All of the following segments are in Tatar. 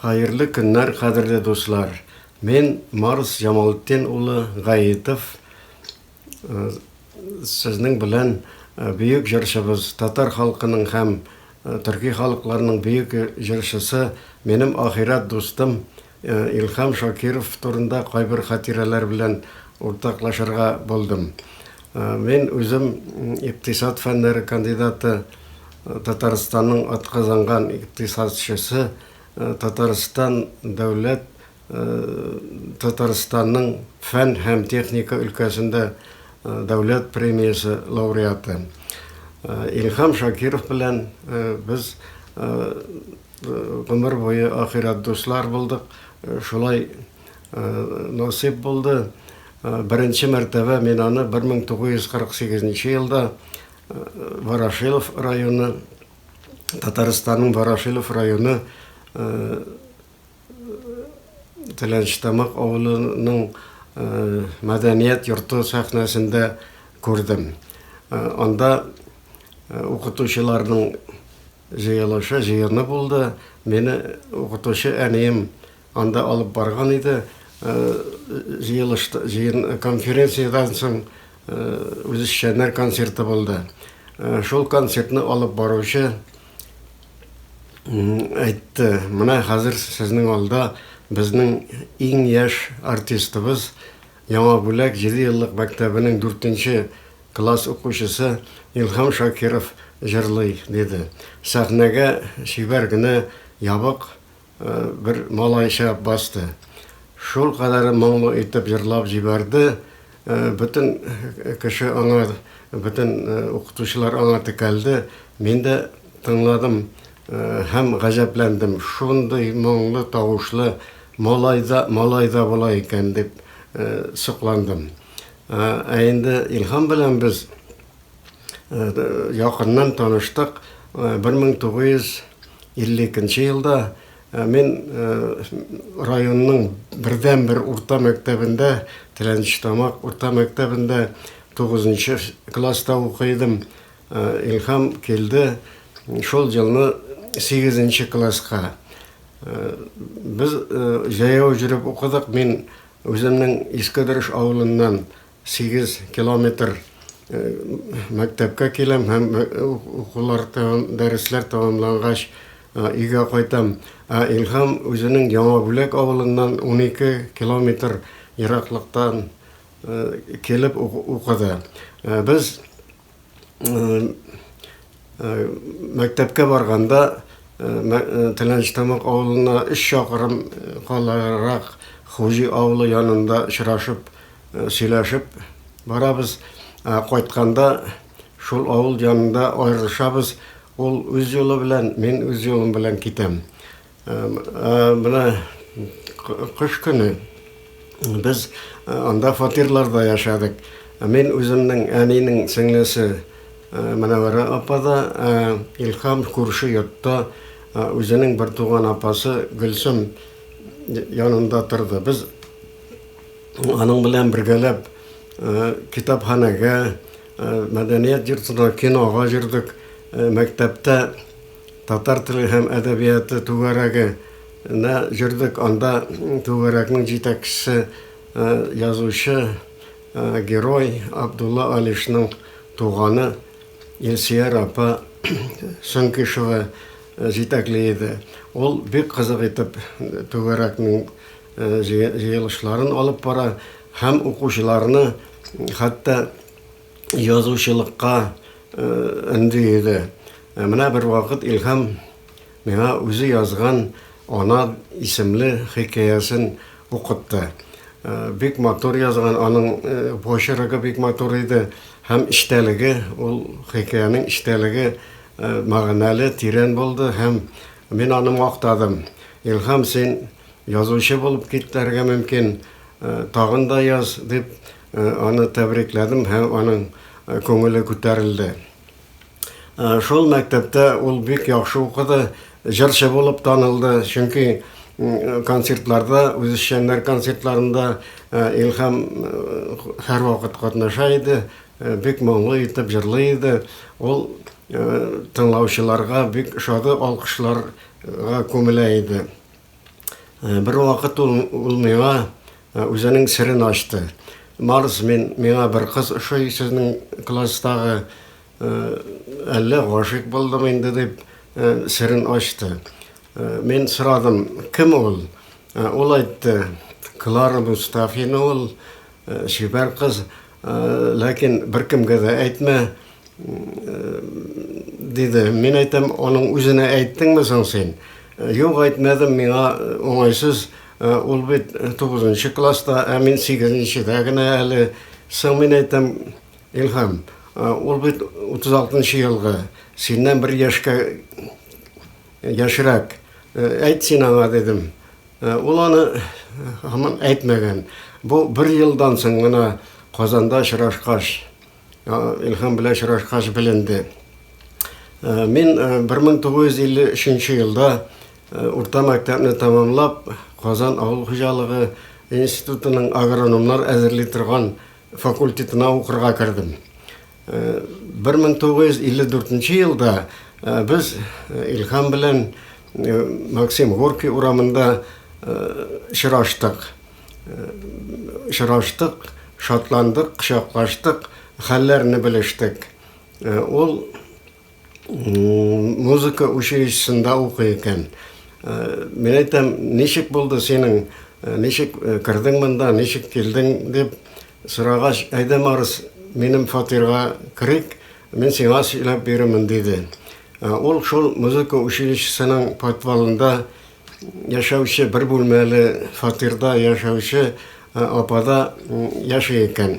Хаерле көннәр кадерле дуслар! Мен Марс Җамалтдин улы Гаитов сезнең белән бөек җырчыбыз, татар халкының һәм төрки халыкларның бөек җырчысы, минем ахирәт дустым Илһам Шакиров турында кайбер хатирәләр белән уртаклашырга булдым. Мин үзем икътисад фәннәре кандидаты. Татарстанның атказанган икътисадчысы, Татарстан дәүләт Татарстанның фән һәм техника өлкәсендә дәүләт премиясе лауреаты Илһам Шакиров белән без гомер буе ахирәт дуслар булдык. Шулай насыйп булды. Беренче мәртәбә мин аны 1948 нче елда Ворошилов районы, Татарстанның Ворошилов районы Теләнчтамак авылының мәдәният йорты сәхнәсендә күрдем. Анда укытучыларның җыелышы, җыены булды. Мине укытучы әнием Анда алып барган иде җыелыш җыен конференциядән соң үзешчәннәр концерты булды. Шул концертны алып баручы әйтте, менә хәзер сезнең алда безнең иң яшь артистыбыз, Яңа Бүләк җиде еллык мәктәбенең дүртенче класс укучысы Илһам Шакиров җырлый, диде. Сәхнәгә чибәр генә ябык Бер малай чыгып басты. Шулкадәр моңлы итеп җырлап җибәрде, бөтен кеше аңа, бөтен укытучылар аңа текәлде. Мин дә тыңладым һәм гаҗәпләндем, шундый моңлы тавышлы малай да, малай да була икән дип сокландым. Ә инде Илһам белән без Якыннан таныштык. 1952 елда мин районның бердәнбер урта мәктәбендә, Теләнчетамак урта мәктәбендә 9 класста укый идем. Илһам килде шул елны 8 класска. Без җәяү йөреп укыдык. Мин үземнең Искедереш авылыннан Сигез километр мәктәпкә киләм һәм укулар, дәресләр тәмамлангач, өйгә кайтам. Ә Илһам үзенең Яңа Бүләк авылыннан унике километр ераклыктан килеп укыды. Без. мәктәпкә барганда Тәләнчтамак авылына өч чакрым каларак Хуҗи авылы янында очрашып, сөйләшеп барабыз. Кайтканда шул авыл янында аерылышабыз. Ул үз юлы белән, мин үз юлым белән китәм. Менә кыш көне без анда фатирларда яшәдек. Мин үземнең әнинең сеңлесе Мөнәвәрә апада, Илһам күрше йортта үзенең бер туган апасы Гөлсем янында торды. Без аның белән бергәләп китапханәгә, мәдәният йортына, кинога йөрдек, мәктәптә Татар теле һәм әдәбияты түгәрәге нә җөрдек, анда түгәрәкнең җитәкчесе язучы герой Абдулла Алишның туганы Илсияр апа Сөңкишева җитәкли иде. Ул бик кызык итеп түгәрәкнең җыелышларын алып бара һәм укучыларны хәтта язучылыкка өнди иде. Ә менә бервакыт Илһам миңа үзе язган Ана исемле хикәясен укытты. Бик матур язган, аның почерогы бик матур иде һәм эчтәлеге, ул хикәянең эчтәлеге мәгънәле, тирән булды һәм мин аны мактадым. Илһам, син язучы булып китәргә мөмкин, тагын да яз, дип Аны тәбрикләдем һәм аның күңеле күтәрелде. Шул мәктәптә ул бик яхшы укыды, җырчы булып танылды, чөнки концертларда, үзешчәннәр концертларында Илһам һәрвакыт катнаша иде, бик моңлы итеп җырлый иде. Ул тыңлаучыларга бик шады алкышларга күмелә иде. Бер вакыт ул, ул миңа үзенең серен ачты. Марс, мин, миңа бер кыз ошый сезнең класстагы, әллә гашыйк булдым инде дип серен ачты. Мин сорадым, кем ул? Ул әйтте, Клара Мустафина ул, Чибәр кыз, ләкин беркемгә дә әйтмә, диде. Мин әйтәм, аның үзенә әйттеңме соң син? Юк, әйтмәдем, миңа уңайсыз. Ул бит тугызынчы класста, ә мин сигезенчедә генә әле. Соң мин әйтәм, Илһам, ул бит утыз алтынчы елгы, синнән бер яшькә Яшьрәк. Әйт син аңа, дидем. Ул аны һаман әйтмәгән. Бу бер елдан соң гына Казанда очрашкач, Илһам белән очрашкач беленде. Мин 1953 елда урта мәктәпне тәмамлап, Казан авыл хуҗалыгы институтының агрономнар әзерли торган факультетына укырга кердем. 1954 нче елда без Илһам белән Максим Горький урамында очраштык. Очраштык, шатландык, кочаклаштык, хәлләрне белештек. Ул Музыка училищесында укый икән. Мин әйтәм, ничек булды синең, ничек кердең монда, ничек килдең дип сорагач, әйдә Марс, минем фатирга керик, мин сиңа сөйләп бирермен, диде. Ул шул музыка училищесының подвалында яшәүче бер бүлмәле фатирда яшәүче апада яши икән.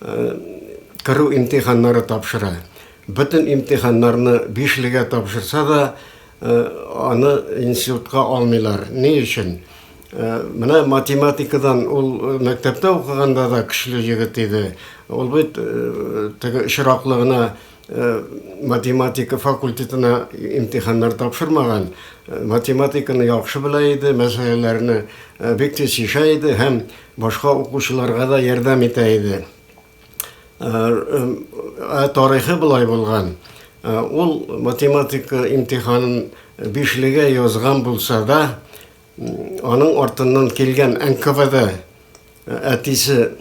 керү имтиханнары тапшыра. Бөтен имтиханнарны бишлегә тапшырса да, аны институтка алмыйлар. Ни өчен? Менә математикадан ул мәктәптә укыганда да көчле егет иде. Ул бит теге очраклы гына математика факультетына имтиханнар тапшырмаган. Математиканы яхшы белә иде, мәсьәләләрне бик тиз чишә иде һәм Башка укучыларга да ярдәм итә иде. Ә тарихы болай булган. Ул математика имтиханын бишлегә язган булса да, аның артыннан килгән НКВД әтисе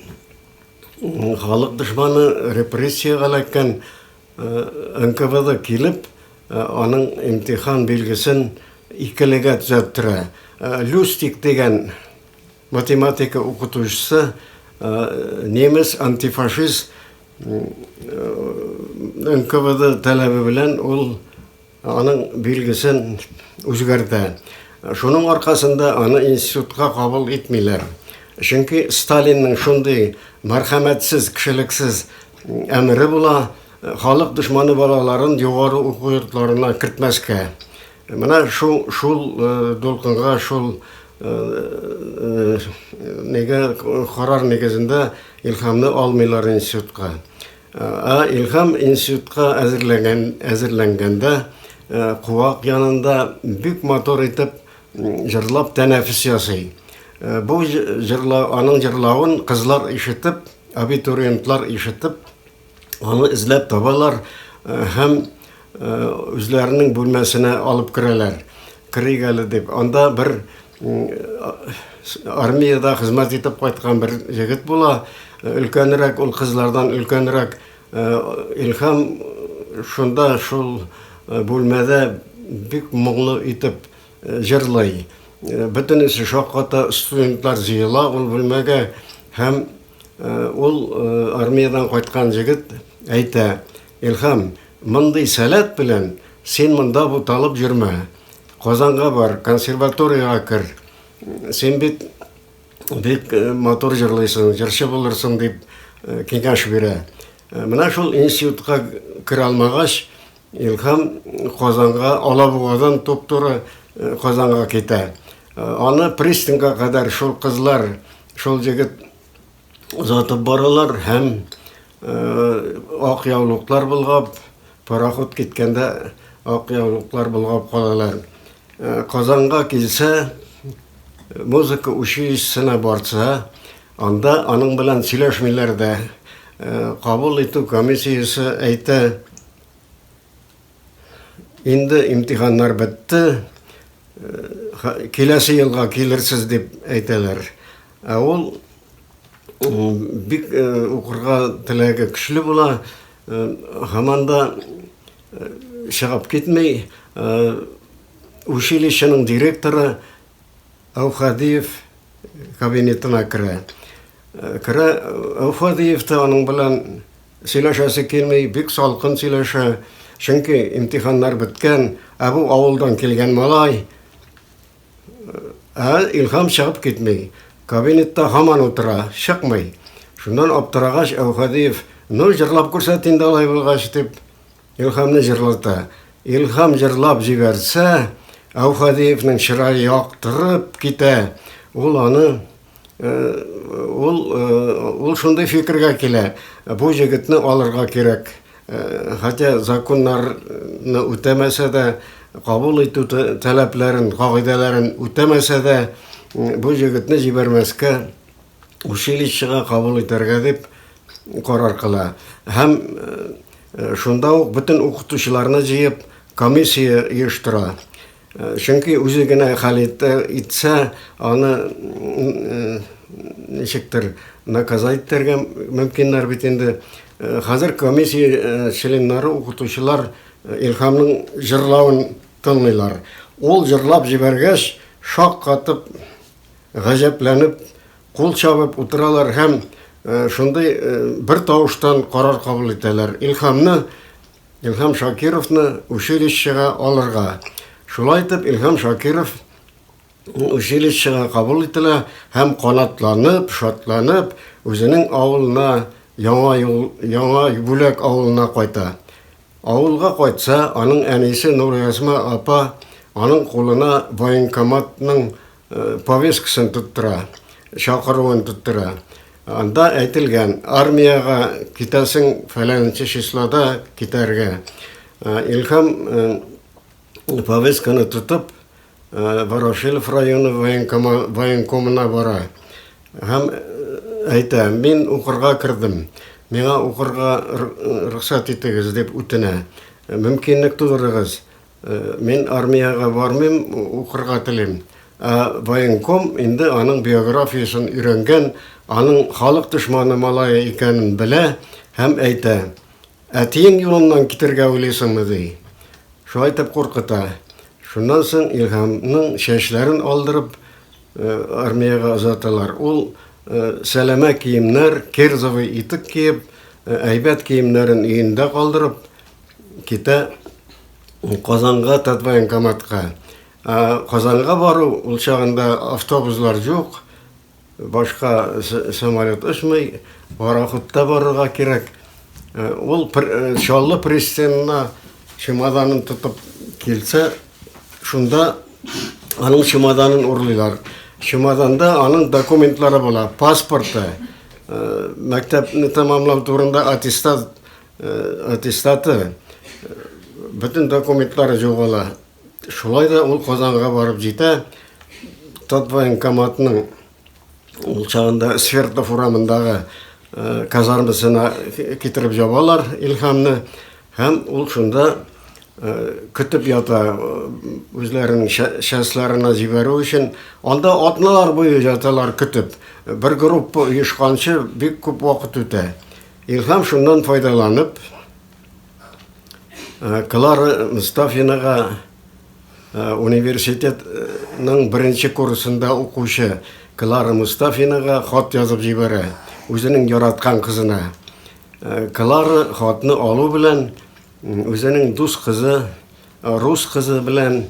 халык дошманы, репрессиягә эләккән НКВД килеп, аның имтихан билгесен икелегә төзәттерә. Люстик дигән Математика укытучысы немец антифашист НКВД таләбе белән ул аның билгесен үзгәртә. Шуның аркасында аны институтка кабул итмиләр. Чөнки Сталинның шундый мәрхәмәтсез, кешелексез әмере була, халык дошманы балаларын югары уку йортларына кертмәскә. Менә шул, шул дулкынга, шул неге карар нигезендә Илхамны алмыйлар институтка. Ә Илхам институтка әзерләнгән, әзерләнгәндә куак янында бик матур итеп җырлап тәнәфес ясый. Бу җырла, аның җырлавын кызлар ишетеп, абитуриентлар ишетеп, Аны эзләп табалар э, һәм э, үзләренең бүлмәсенә алып керәләр. Керик әле дип. Анда бер армиядә хезмәт итеп кайткан бер егет була. Э, өлкәнрәк ул кызлардан өлкәнрәк Илһам шунда шул бүлмәдә бик моңлы итеп җырлый. Бөтенесе шакката студентлар җыела ул бүлмәгә һәм Ул армиядән кайткан җегет әйтә, Илһам, мондый сәләт белән син монда буталып йөрмә. Казанга бар, консерваториягә кер. Син бит бик матур җырлыйсың, җырчы булырсың, дип киңәш бирә. Менә шул институтка керә алмагач, Илһам Казанга, Алабугадан туп-туры Казанга китә. Аны пристаньга кадәр шул кызлар Шул җегет озатып баралар һәм ак яулыклар болгап, пароход киткәндә ак яулыклар болгап калалар. Казанга килсә, музыка училищесына барса, анда аның белән сөйләшмиләр дә. Кабул итү комиссиясе әйтә, Инде имтиханнар бетте, киләсе елга килерсез дип әйтәләр. Ә ул бик укырга теләге көчле була, һаман да чыгып китми. Училищеның директоры Әүхәдиев кабинетына керә. Керә Әүфәдиев та аның белән сөйләшәсе килми, бик салкын сөйләшә, чөнки имтиханнар беткән, ә бу авылдан килгән малай. Ә Илһам чыгып китми, кабинетта һаман утыра, чыкмый. Шуннан аптырагач, Әүфәдиев, Ну, җырлап күрсәт инде алай булгач, дип, Илһамны җырлата. Илһам җырлап җибәрсә, Әүхәдиевнең чырае яктырып китә. Ул аны ул ул шундый фикергә килә. Бу җегетне алырга кирәк. Хотя законнарны үтәмәсә дә, кабул итү таләпләрен, кагыйдәләрен үтәмәсә дә, бу җегетне җибәрмәскә училищега кабул итәргә дип карар кыла һәм шунда ук бөтен укытучыларны җыеп комиссия оештыра. Чөнки үзе генә хәл итсә, аны ничектер наказать итәргә мөмкиннәр бит инде. Хәзер комиссия членнары укытучылар Илһамның җырлавын тыңлыйлар. Ул җырлап җибәргәч, шаккатып, Гаҗәпләнеп, кул чабып утыралар һәм шундый бер тавыштан карар кабул итәләр, Илһамны, Илһам Шакировны училищега алырга. Шулай итеп, Илһам Шакиров училищега кабул ителә һәм канатланып, шатланып, үзенең авылына, Яңа юл, Яңа Бүләк авылына кайта. Авылга кайтса, аның әнисе Нуръязма апа аның кулына военкоматның повесткасын тоттыра, чакыруын тоттыра. Анда әйтелгән, армиягә китәсең фәләнче числода китәргә. Илһам повестканы тотып, Ворошилов районы военкомына бара һәм әйтә, мин укырга кердем, миңа укырга рөхсәт итегез дип үтенә. Мөмкинлек тудырыгыз, Мин армиягә бармыйм, укырга телим. Ә военком инде аның биографиясен өйрәнгән, аның халык дошманы малае икәнен белә һәм әйтә, Әтиең юлыннан китәргә уйлыйсыңмы? ди. Шулай итеп куркыта. Шуннан соң Илһамның чәчләрен алдырып, армиягә озаталар. Ул сәләмә киемнәр, кирзовый итек киеп, әйбәт киемнәрен өендә калдырып, Китә Казанга Татвоенкоматка. Казанга бару ул чагында автобуслар юк, башка самолет очмый, пароходта барырга кирәк. Ул Чаллы пристанена чемоданын тотып килсә, шунда аның чемоданын урлыйлар. Чемоданда аның документлары була, паспорты, мәктәпне тәмамлау турында аттестат, Аттестаты, бөтен документлары югала. Шулай да ул Казанга барып җитә. Татвоенкоматның ул чагында Свердлов урамындагы казармасына китереп ябалар Илһамны һәм ул шунда көтеп ята үзләренең частьларына җибәрү өчен. Анда атналар буе яталар көтеп. Бер группа оешканчы бик күп вакыт үтә. Илһам шуннан файдаланып, Клара Мостафинага университетның беренче курсында укучы Клара Мостафинага хат язып җибәрә, үзенең яраткан кызына. Клара хатны алу белән үзенең дус кызы, рус кызы белән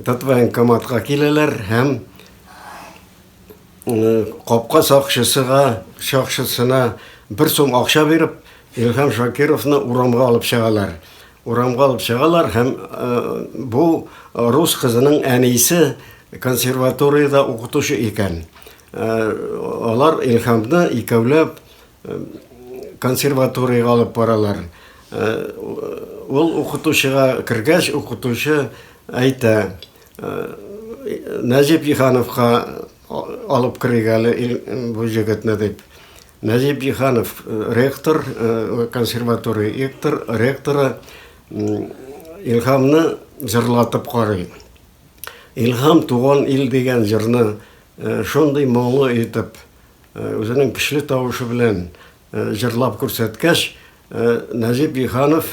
Татвоенкоматка киләләр һәм Капка сакчысыга, сакчысына бер сум акча биреп, Илһам Шакировны урамга алып чыгалар. Урамга алып чыгалар һәм бу рус кызының әнисе консерваториядә укытучы икән. Алар Илһамны икәүләп консерваториягә алып баралар. Ул укытучыга кергәч, укытучы әйтә. Нәҗип Җиһановка алып керик әле бу җегетне дип. Нәҗип Җиһанов ректор, консерватория ректор, ректоры Илһамны җырлатып карый. Илһам туган ил дигән җырны шундый моңлы итеп, үзенең көчле тавышы белән Җырлап күрсәткәч, Нәҗип Җиһанов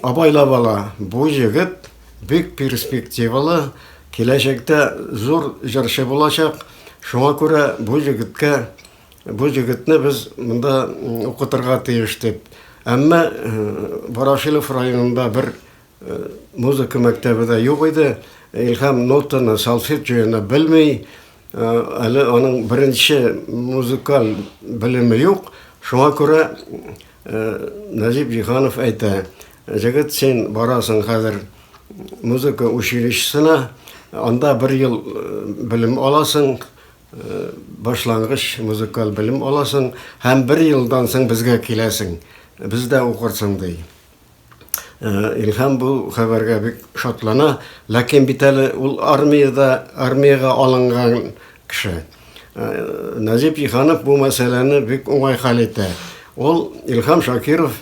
абайлап ала, бу егет бик перспективалы, киләчәктә зур җырчы булачак, шуңа күрә бу егеткә, бу егетне без монда укытырга тиеш, дип. Әмма Ворошилов районында бер Музыка мәктәбе дә юк иде. Илһам нотаны, салфетчуяны белми. Әле аның беренче музыкаль белеме юк. Шуңа күрә Нәҗип Җиһанов әйтә, Җегет, син барасың хәзер музыка училищесына, анда бер ел белем аласың, башлангыч музыкаль белем аласың һәм бер елдан соң безгә киләсең, бездә укырсың, ди. Э, Илһам бу хәбәргә бик шатлана, ләкин бит әле ул армиядә, армиягә алынган кеше. Э, Назип Иханов бу мәсьәләне бик уңай хәл итә. Ул Илһам Шакиров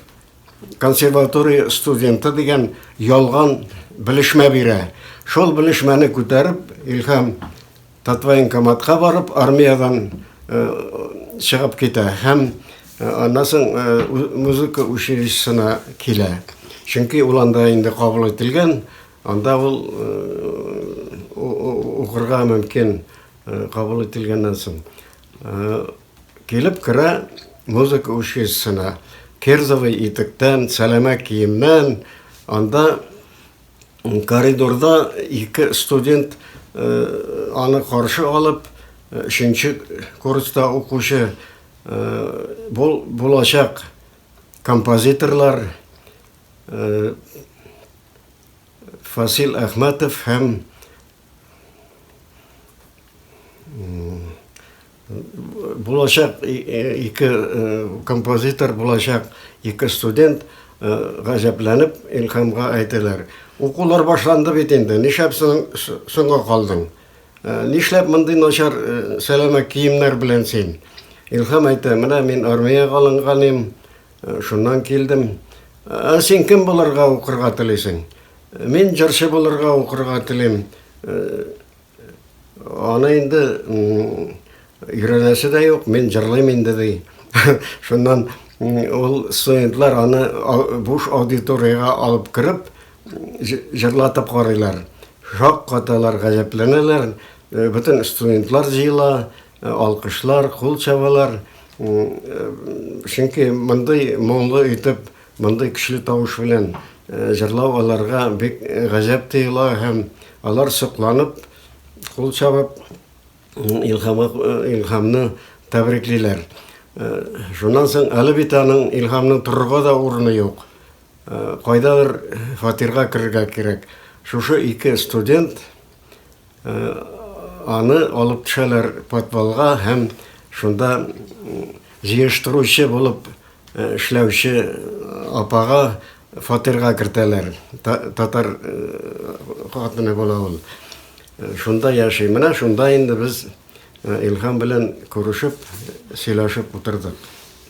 консерватория студенты дигән ялган белешмә бирә. Шул белешмәне күтәреп, Илһам Татвоенкоматка барып армиядән чыгып китә һәм аннан соң музыка училищесына килә. Чөнки ул анда инде кабул ителгән, анда ул укырга мөмкин кабул ителгәннән соң. Килеп керә музыка училищесына, кирзовый итектән, сәләмә киемнән, анда Коридорда ике студент аны каршы алып, өченче курста укучы булачак композиторлар Фасил Әхмәтов һәм Булачак ике композитор, булачак ике студент гаҗәпләнеп Илхамга әйтәләр. Укулар башланды бит инде, нишләп соңга калдың? Нишләп мондый начар сәләмә киемнәр белән син? Илхам әйтә, менә мин армиягә алынган идем, Шуннан килдем. Ә син кем булырга укырга телисең? Мин җырчы булырга укырга телим. Аны инде өйрәнәсе дә юк, мин җырлыйм инде ди. Шуннан ул студентлар аны буш аудиториягә алып кереп, җырлатып карыйлар. Шаккаталар, гаҗәпләнәләр. Бөтен студентлар җыела, Алкышлар, кул чабалар. Чөнки мондый моңлы итеп, мондый көчле тавыш белән җырлау аларга бик гаҗәп тоела һәм алар сокланып, кул чабып, Илһама, Илһамны тәбриклиләр. Шуннан соң әле бит аның Илһамның торырга да урыны юк. Кайдадыр фатирга керергә кирәк. Шушы ике студент Аны алып төшәләр подвалга һәм шунда җыештыручы булып эшләүче апага фатирга кертәләр. Татар хатыны була ул. Шунда яши. Менә шунда инде без Илһам белән күрешеп, сөйләшеп утырдык.